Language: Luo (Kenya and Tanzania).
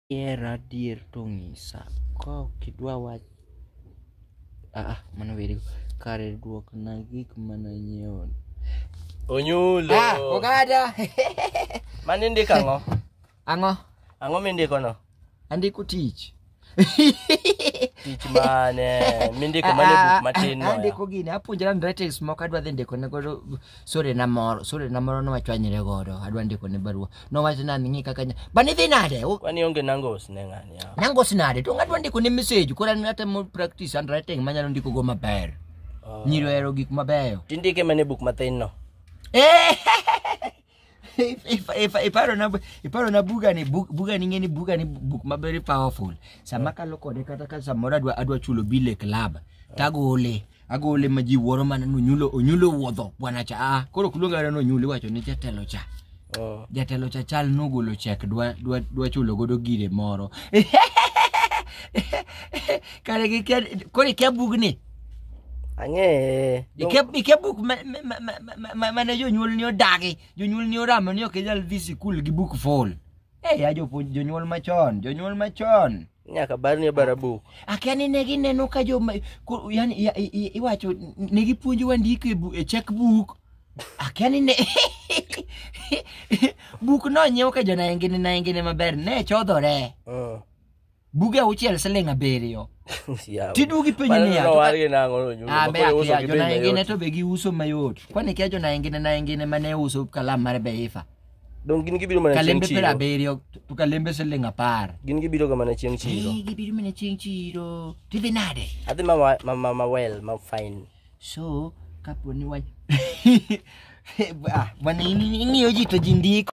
Ihera adier to ng'isa. Ka ok idwa wach ah ah, mano weri kare duok na gik mana nyiewo. Onyulo. Ah, ogada. Mani ndiko ang'o? Ang'o? Ang'o mindiko no? Andiko tich. Tich mane? Mindiko mane buk matin no? Andiko gini, apuonjra ndretes moko adwa dhi ndiko ne godo sore na moro sore na moro nowachwanyre godo adwa ndiko ne barua nowacho na ng'i kaka nya- bani dhi nade U- Kwani onge nango usne ng'ani yawa. nango sinade to ngadwa ndiko ne message koro an atemo practice handwriting manyalo ndiko go maber Oh. nyiri ohero gik mabeyo Tindike mana e buk mathin no. Eh, if, if, if, iparo na iparo na buga ni bug, buga ni ngeni buga ni book ma very powerful sama kalo kode kata ka samoro adwa adwa chulo bile club tagole agole ma ji wuoro mana no nyulo onyulo wuodho bwana cha ah koro kuluonga reno nyulo iwacho ni jatelo cha Oh. jatelo cha chal nogolo chek dwa dwa dwa chulo godo gire moro kare gi koro ikia bugni Ang'eye. Ike ike buk ma ma- ma- ma- ma- ma- mane jonyuol ni odagi, jonyuol ni oramo ni ok inyal dhi sikul gi buk full. Eh, ya jopuonj jonyuol machon, jonyuol machon. Nyaka bar ni bara buk. Akia ni ne gineno ka jo ma- ko- yani i- i- i- iwacho ne gipuonjowa ndiko e bu- e checkbook. Akia ni ne buk no nyiew ka jo naengene naengene maber ne chodhore. Mm. buge auchiel siling abiriyo Yawa. tidugi penjo Mano niya to ka- nowargi nang'o no, nyuma, ambe koro uso akia gi bei jonaengine mayot. to be giuso mayot kwani kia jonaengine naengine mane uso kalam mar beifa Dong gin gibiro mana chieng' kalembe piero chiro. abiriyo to kalembe siling apar Gin gibiroga mana chieng' chiro. Eh, gibiro mana chieng' chiro tidhi nade Adhi ma wa- ma- ma- ma well, ma fine. so kapo ni wa Ah, bwana ing'iyo ji to ji ndiko